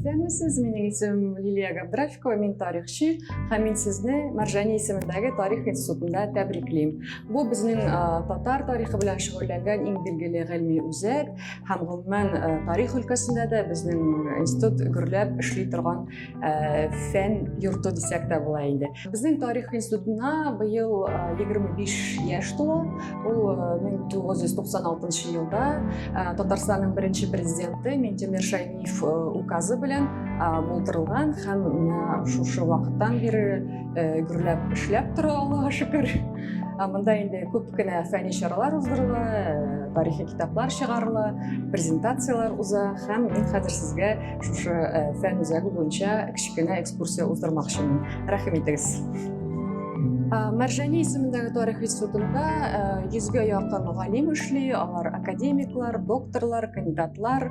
Исәнмесез, минең исем Лилия Габдрафикова, мин тарихчы һәм мин сезне Маржани исемендәге тарих институтында тәбриклим. Бу безнең татар тарихы белән шөгыльләнгән иң билгеле гыйльми үзәк. һәм гомумән э, тарих өлкәсендә дә безнең институт гөрләп эшли торган э, фән йорты дисәк тә була инде безнең тарих институтына быел 25 э, яшь тула ул 1996 елда татарстанның беренче президенты минтимер шәймиев указы белән булдырылган һәм шушы вакыттан бері э, гөрләп эшләп тора аллага шөкер мында инде күп кенә фәнни чаралар уздырыла э, тарихи китаплар чыгарыла презентациялар уза һәм мин хәзер сезгә шушы э, фән үзәге буенча кечкенә экскурсия уздырмакчымын рәхим итегез Мәржәни исемендәге тарих институтында э, йөзгә якын галим эшли, алар академиклар, докторлар, кандидатлар,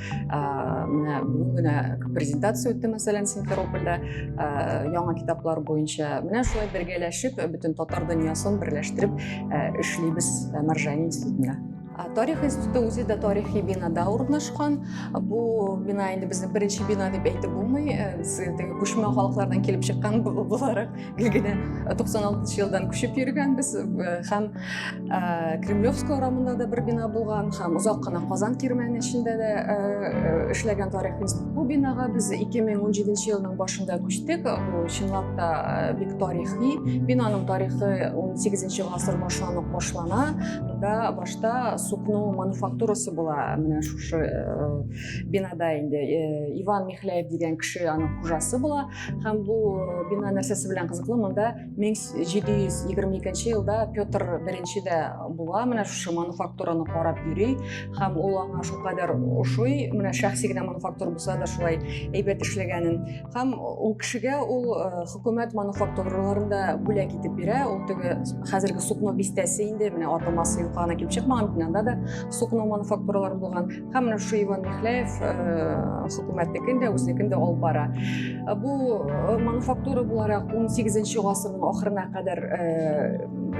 менә бүген генә презентация үтте мәсәлән симферопольдә яңа китаплар буенча менә шулай бергәләшеп бөтен татар дөньясын берләштереп эшлибез маржани институтында тарих институты үзе дә тарихи бинада урнашкан бу бина инде безнең беренче бина дип әйтеп булмый без теге күчмә халыклардан килеп чыккан буларак генә 96 елдан күчеп йөргәнбез һәм кремлевская урамында да бер бина булган һәм озак кына казан кирмәне эчендә дә эшләгән тарихыбыз бу бинага без 2017 елның башында күчтек бу чынлап та бик тарихи бинаның тарихы 18 гасыр башланып башлана монда башта сукно мануфактурасы була менә шушы бинада инде иван михляев дигән кеше аның хужасы була һәм бу э, бина нәрсәсе белән кызыклы монда 1722 елда петр беренче дә була менә шушы мануфактураны карап йөри һәм ул аңа шулкадәр ошый менә шәхси генә мануфактура булса да шулай әйбәт эшләгәнен һәм ул кешегә ул э, хөкүмәт мануфактураларын да бүләк итеп бирә ул теге хәзерге сукно бистәсе инде менә атамасы юкана килеп чыкмаган бинада да сукно мануфактуралар булган Хамна Шуеван Михляев хөкүмәтнекен дә, үзенекен дә алып бара. Бу мануфактура буларак 18 гасырның ахырына кадәр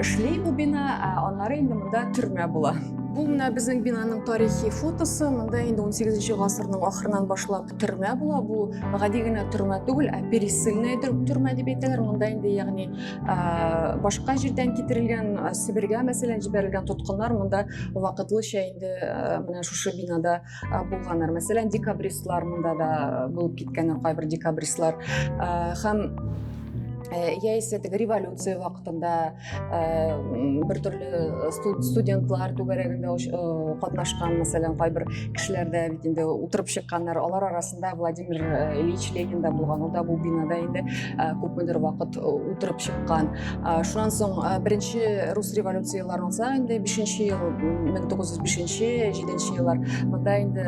эшли бу бина, аннары инде монда төрмә була. Бу менә безнең бинаның тарихи фотосы. Монда инде 18 гасырның ахырынан башлап төрмә була бу гади генә төрмә түгел ә пересыльная төрмә дип әйтәләр монда инде ягъни башка җирдән китерелгән себергә мәсәлән җибәрелгән тоткыннар монда вакытлыча инде менә шушы бинада булганнар мәсәлән декабристлар монда да булып киткәннәр кайбер декабристлар һәм яисә теге революция вакытында бер төрле э, студентлар түгәрәгендә э, катнашкан мәсәлән кайбер кешеләр дә бит инде утырып чыкканнар алар арасында владимир э, ильич ленин да булган ул да бу бинада инде күпмедер вакыт утырып чыккан шуннан соң беренче рус революцияләр булса инде бишенче ел мең тугыз йөз бишенче җиденче еллар монда инде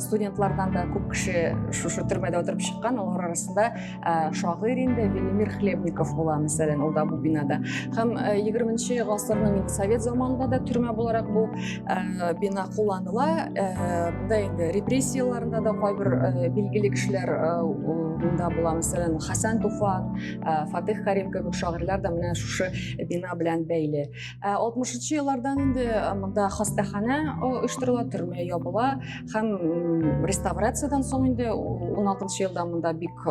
студентлардан да күп кеше шушы төрмәдә утырып чыккан алар арасында ә, шагыйрь инде Велимир Хлебников була, мәсәлән, ул да бу бинада. Һәм 20-нче гасырның инде совет заманында да төрмә буларак бу ә, бина кулланыла. Ә, монда инде репрессияләрендә дә кайбер ә, билгеле кешеләр ә, монда була, мәсәлән, Хәсән Туфан, ә, Фатих Карим кебек шагыйрьләр дә менә шушы бина белән бәйле. алтмышынчы еллардан инде монда хастаханә оештырыла төрмә ябыла һәм реставрациядан соң инде он алтынчы елда монда бик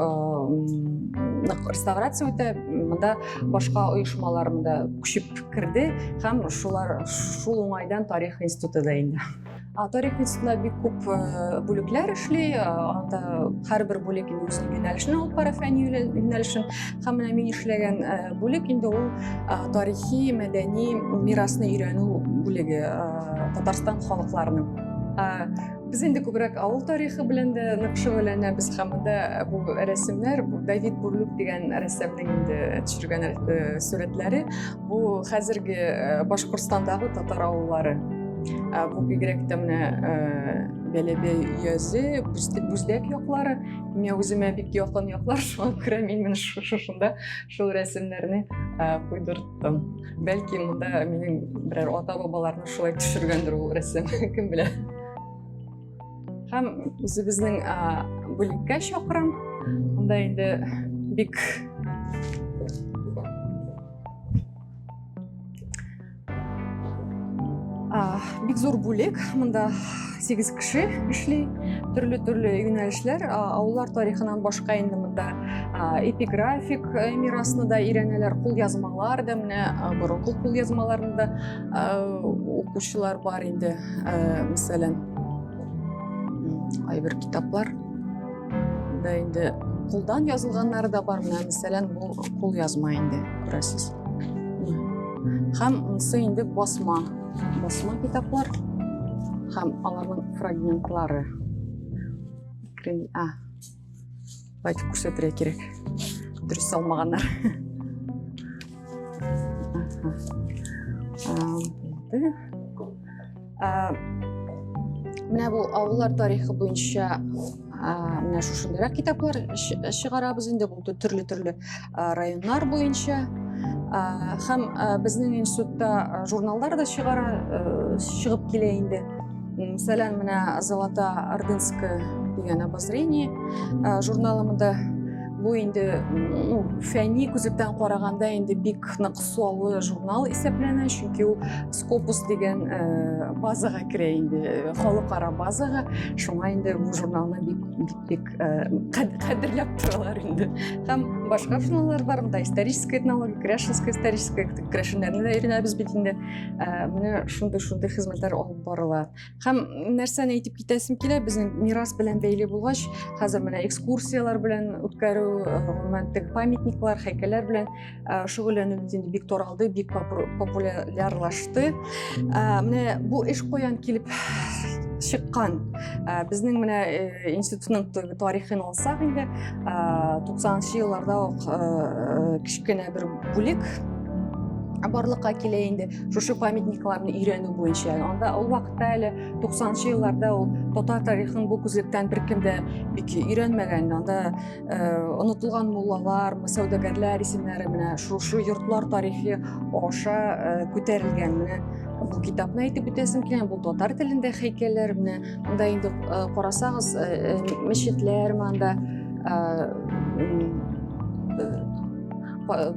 нык реставрация үтә монда башка оешмалар монда күчеп керде һәм шулар шул уңайдан тарих институты да инде Торик институтында бик күп бүлекләр эшли, анда һәрбер бүлек инде үз юнәлешен алып бара, фәнни юнәлешен. Һәм менә мин эшләгән бүлек инде ул тарихи, мәдәни мирасны өйрәнү бүлеге Татарстан халыкларының. Без инде күбрәк авыл тарихы белән дә нык шөгыльләнәбез һәм монда бу рәсемнәр Давид Бурлюк дигән рәссамның инде төшергән сурәтләре. бу хәзерге э, башкортстандагы татар авыллары э, бу бигрәк тә менә э, бәләбе өязе бүздәк яклары миңа үземә бик якын яклар шуңа күрә мин менә шушында шул рәсемнәрне куйдырттым бәлки монда минем берәр ата бабаларны шулай төшергәндер ул рәсем кем белә һәм үзебезнең бүлеккә чакырам анда инде бик бик зур бүлек монда сегиз кеше эшли төрле төрле юнәлешләр авыллар тарихынан башка инде монда эпиграфик мирасны да өйрәнәләр кулъязмалар да менә борынгы кулъязмаларны да укучылар бар инде мәсәлән кайбер китаплар да инде кулдан язылганнары да бар менә мәсәлән бу кул язма инде күрәсез һәм монысы инде басма басма китаплар һәм аларның фрагментлары а Байтып күрсәтергә кирәк. Дөрес салмаганнар. Менә бу авыллар тарихы буенча менә шушындыйрак китаплар чыгарабыз инде бу төрле-төрле районнар буенча һәм безнең институтта журналлар да чыгара чыгып килә инде мәсәлән менә золота ордынская дигән обозрение журналымында бу инде ну фәнни күзлектән караганда инде бик нык суаллы журнал исәпләнә чөнки ул скопус дигән э, базага керә инде э, халыкара базага шуңа инде бу журналны бик бик бик Э, кадрлап торалар инде һәм башка финаллар бар монда историческая этнология кряшинская историческая кряшиннәрне дә өйрәнәбез бит инде э, менә шундый шундый хезмәтләр алып барыла һәм нәрсәне әйтеп китәсем килә безнең мирас белән бәйле булгач хәзер менә экскурсиялар белән үткәрү гомумән э, теге памятниклар һәйкәлләр белән Э, шөгыльләнү инде бик таралды бик популярлашты э, менә бу эш каян килеп чыккан э, безнең менә институтның тарихын алсак инде туксанынчы елларда ук кечкенә бер бүлек барлыкка килә инде шушы памятникларны өйрәнү буенча анда ул вакытта әле туксанынчы елларда ул татар тарихын бу күзлектән беркем дә бик өйрәнмәгән анда онытылган муллалар сәүдәгәрләр исемнәре менә шушы йортлар тарихи аша күтәрелгән менә бу китапны әйтеп үтәсем килә бу татар телендә хәйкәлләр менә монда инде карасагыз мәчетләр монда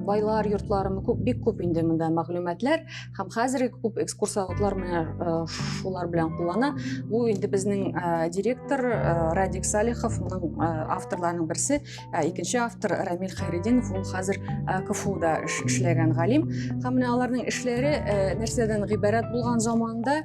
байлар йортлары күп бик күп инде монда мәгълүматлар һәм хәзерге күп экскурсоводлар менә э, шулар белән куллана бу инде безнең э, директор э, радик салихов моның авторларының берсе икенче автор рамил хайрединов ул хәзер кфуда эшләгән галим һәм менә аларның эшләре нәрсәдән гыйбарәт булган заманда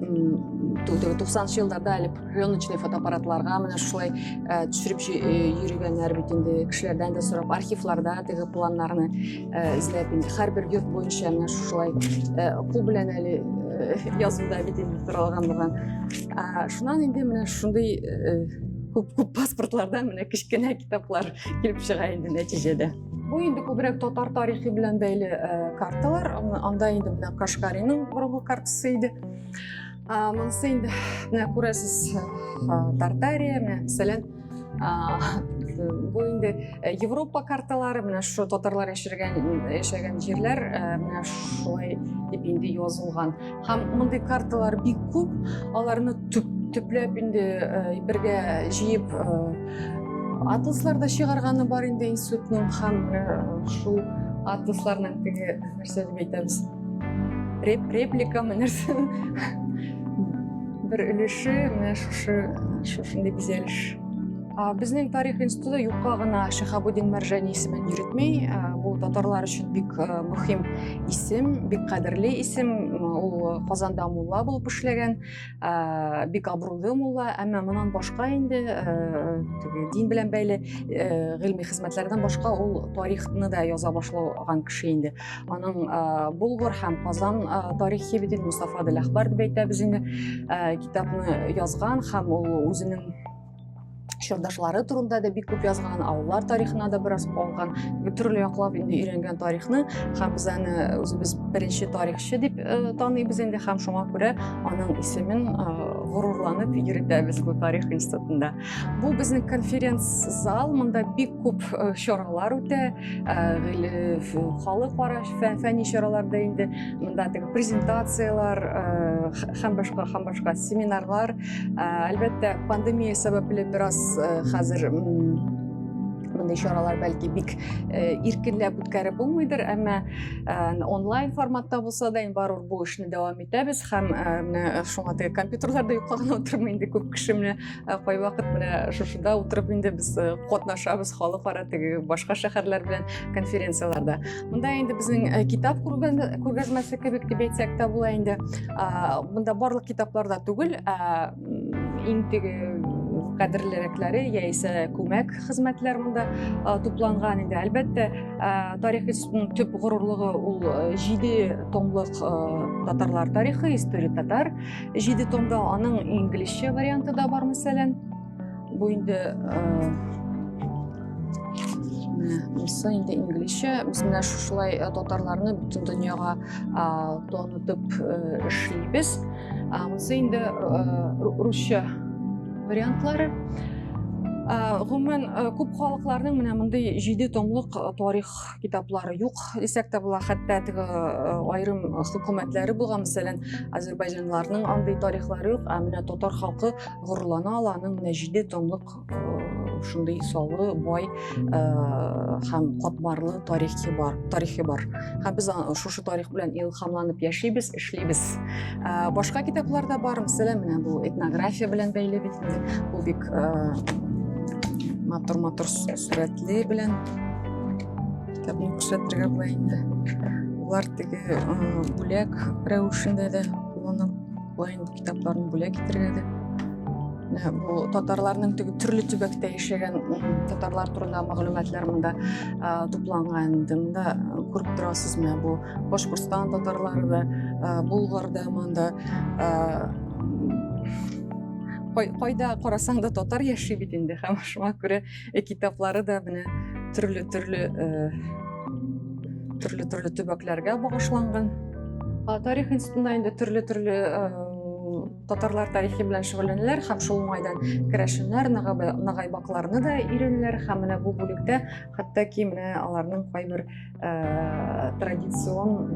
90 елларда әле пленочный фотоаппаратларга менә шулай э, төшереп э, йөргәннәр бит инде кешеләрдән дә сорап архивларда теге планнарны э, эзләп инде һәрбер йорт буенча менә шулай кул белән әле язуда бит инде торалган булган шуннан инде менә шундый күп күп паспортлардан менә кечкенә китаплар килеп чыга инде нәтиҗәдә Бу инде күбрәк татар тарихы белән бәйле э, карталар. Анда инде менә Кашкарының борынгы картасы иде. Монысы инде менә күрәсез э, Тартария, менә мәсәлән, бу инде э, Европа карталары, менә шу татарлар яшәгән яшәгән җирләр менә шулай дип инде язылган. Һәм мондый карталар бик күп, аларны төп төпләп инде бергә җыеп атласлар да чыгарганы бар инде институтның һәм шул атласларның теге нәрсә дип әйтәбез реп репликамы нәрсә бер өлеше менә шушы шушындый бизәлеш Безнең тарих институты юкка гына Шихабудин Мәржани исемен йөртми. Бу татарлар өчен бик мөһим исем, бик кадерле исем. Ул Казанда мулла булып эшләгән. бик абруйлы мулла әмма монан башка инде дин белән бәйле гыйльми хезмәтләрдән башка ул тарихны да яза башлаган кеше инде аның болгар һәм казан тарихи бит мустафа дел әхбар дип әйтәбез инде китапны язган һәм ул үзенең чордашлары турында да бик күп язган авыллар тарихына да бераз калган төрле яклап инде өйрәнгән тарихны һәм без аны үзебез беренче тарихчы дип таныйбыз инде һәм шуңа күрә аның исемен горурланып йөртәбез бу тарих институтында бу безнең конференц зал монда бик күп чаралар үтә халыкара фәнни чараларда инде монда теге презентациялар һәм башка һәм башка семинарлар Ә, әлбәттә, пандемия сәбәпле бераз э, хәзер мондый чаралар бәлки бик э, иркенләп үткәреп булмыйдыр әмма э, онлайн форматта булса да инде барыбер бу эшне дәвам итәбез һәм э, менә шуңа теге компьютерларда юкка гына утырмый инде күп кеше менә кайвакыт менә шушыда утырып инде без катнашабыз халыкара теге башка шәһәрләр белән конференцияләрдә Монда инде безнең э, китап күргәзмәсе кебек дип әйтсәк тә була инде. Монда барлык китаплар да түгел, иң теге кадерлерәкләре яисә күмәк хезмәтләр монда тупланган инде. Әлбәттә, тарих институтының төп горурлыгы ул э, җиде томлык э, татарлар тарихы, история татар. Җиде томда аның инглизчә варианты да бар, мәсәлән. Бу инде Мысы инде инглизчә. Без менә шушылай татарларны бөтен дөньяга танытып эшлибез. Мысы инде русча вариантлары. Гомумән күп халыкларның менә мондый җиде томлык тарих китаплары юк дисәк тә була хәтта теге э, аерым хөкүмәтләре булган мәсәлән азербайҗанларның андый тарихлары юк ә менә татар халкы горурлана ала аның менә җиде томлык э, шундый саллы бай э, һәм катмарлы тарихи бар тарихи бар һәм без шушы тарих белән илһамланып яшибез эшлибез башка китаплар да бар мәсәлән менә бу этнография белән бәйле бит бу бик матур матур сурәтле белән кітабын көрсөттүгө булайында булар тиги бүләк рәвешендә дә кулланып булайын китапларын бүләк итәргә дә ә, бу татарларның теге төрле төбәктә яшәгән татарлар турында мәгълүматлар монда ә, тупланган инде монда ә, күреп торасызмы бу башкортстан татарлары да булгар да монда кайда карасаң да татар яши бит инде һәм шуңа күрә Э, китаплары да менә төрле төрле э, төрле төрле төбәкләргә багышланган. Тарих институтында инде төрле төрле э, татарлар тарихи белән шөгыльләнәләр һәм шул уңайдан керәшеннәр нагайбакларны да өйрәнәләр һәм менә бу бүлектә хәтта ки менә аларның кайбер Э, традицион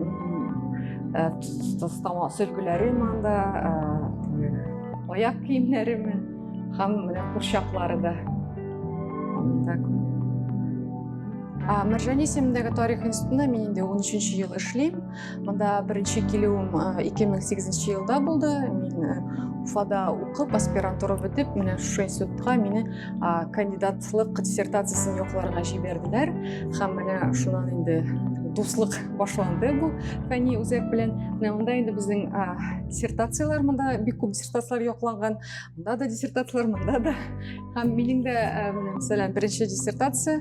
э, сөлгеләрем анда э, аяк киемнәреме һәм менә курчаклары да мәржәни исемендәге тарих институтында мин инде 13 ел эшлим. Монда беренче килүем 2008 елда булды. Мин Уфада укып, аспирантура бетеп, менә шушы институтка мине кандидатлык диссертациясен якларга җибәрделәр. Һәм менә шуннан инде дуслык башланды бу фәни үзәк белән. Менә монда инде безнең диссертацияләр монда бик күп диссертацияләр якланган. Монда да диссертацияләр, монда да. Һәм минем дә, мәсәлән, беренче диссертация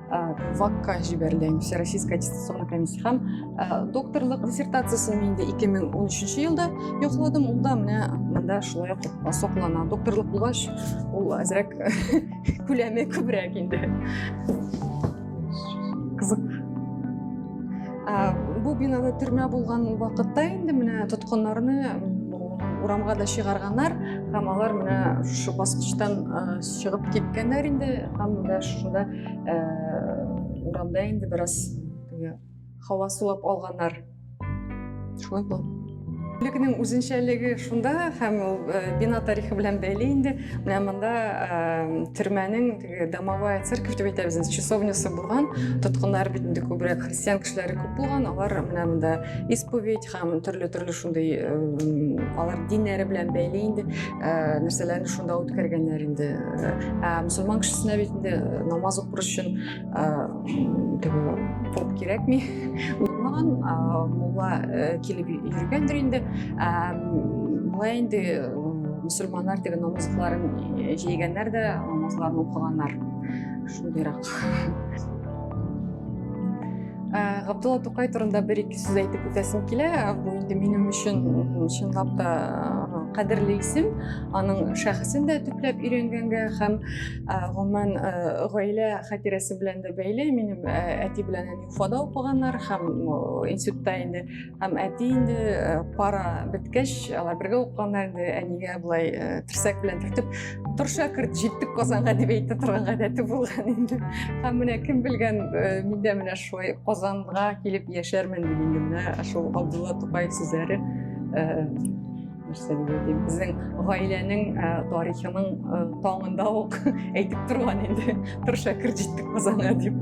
Э, вакка жибәрелгән всероссийская аттестационная комиссия һәм э, докторлык диссертациясен инде 2013 елда якладым ул да менә монда шулай ук соклана докторлык булгач ул әзрәк күләме күбрәк инде кызык э, бу бинада төрмә булган вакытта инде менә тоткыннарны урамга да чыгарганнар һәм алар менә шушы баскычтан чыгып киткәннәр инде һәм менә шушында э, урамда инде бераз теге һава сулап алганнар шулай булды Бүлекнең үзенчәлеге шунда һәм ул э, бина тарихы белән бәйле инде. Менә монда э, төрмәнең теге домовая церковь дип әйтәбез, часовнясы булган. Тоткыннар бит инде күбрәк христиан кешеләре күп булган. Алар менә монда исповедь һәм төрле-төрле шундый алар диннәре белән бәйле инде. ә, нәрсәләрне шунда үткәргәннәр инде ә, мөселман кешесенә бит инде намаз укыр өчен ә, поп кирәкми узмаган мулла килеп йөргәндер инде болай инде мөселманнар теге намазларын җәйгәннәр дә намазларын укыганнар шундыйрак Ә, Габдулла Тукай турында бер ике сүз әйтеп үтәсем килә. Бу инде минем өчен чынлап та кадерле исем. Аның шәхесен дә төпләп өйрәнгәнгә һәм гомумән гаилә хатирәсе белән дә бәйле. Минем әти белән әни Уфада укыганнар һәм институтта инде Һәм әти инде э, пара беткәч, алар бергә укыганнар инде әнигә болай э, терсәк белән төртеп, тор шәкерт, җиттек Казанга дип әйтә торган гадәте булган инде. Һәм менә кем белгән, э, мин дә менә шулай Казанга килеп яшәрмен дип инде менә шул Абдулла Тукаев сүзләре нәрсә дип әйтим безнең гаиләнең ә, тарихының ә, таңында ук әйтеп торган инде бер шәкерт җитте казанга дип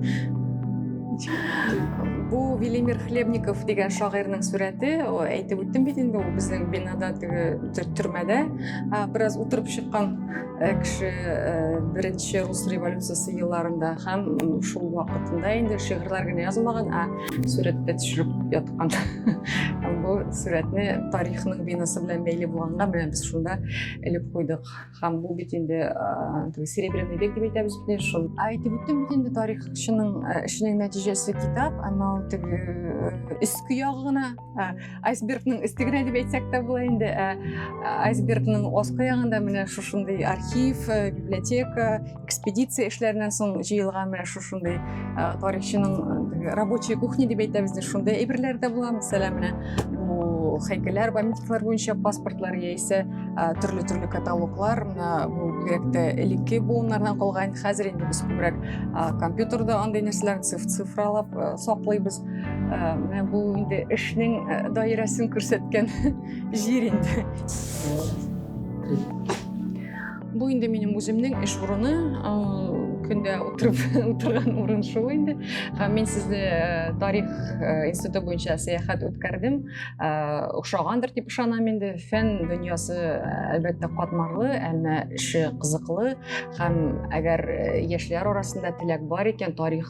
бу велимир хлебников дигән шагыйрьнең сурәте әйтеп үттем бит инде ул безнең бинада теге төрмәдә бераз утырып чыккан Э, кеше э, беренче рус революциясе елларында һәм шул вакытында инде шигырьләр генә язмаган ә сурәткә төшереп яткан һәм бу сурәтне тарихның бинасы белән бәйле булганга менә без шунда элеп куйдык һәм бу бит инде э, серебряный век дип әйтәбез бит шул әйтеп үттем бит инде тарихчының эшенең нәтиҗәсе китап әмма ул теге өске ягы гына Ә, айсбергның өстегенә дип әйтсәк тә була инде ә, ә, айсбергның аскы ягында менә шушындый архив ә, библиотека экспедиция эшләреннән соң җыелган менә шушындый тарихчының рабочая кухня дип әйтәбез шундый әйберләр дә була мәсәлән менә бу һәйкәлләр памятниклар буенча паспортлар яисә төрле төрле каталоглар мына бу бигрәк тә элекке буыннардан калган хәзер инде без күбрәк компьютерда андый нәрсәләрне цифралап саклыйбыз Менә бу инде эшнең даирәсен күрсәткән җир инде. Бу инде минем үземнең эш урыны. Көндә утырып утырган урын шул инде. Һәм мин сезне тарих институты буенча сәяхәт үткәрдем. Охшагандыр дип ышанам инде. Фән дөньясы әлбәттә катмарлы, әмма эше кызыклы һәм әгәр яшьләр арасында теләк бар икән, тарих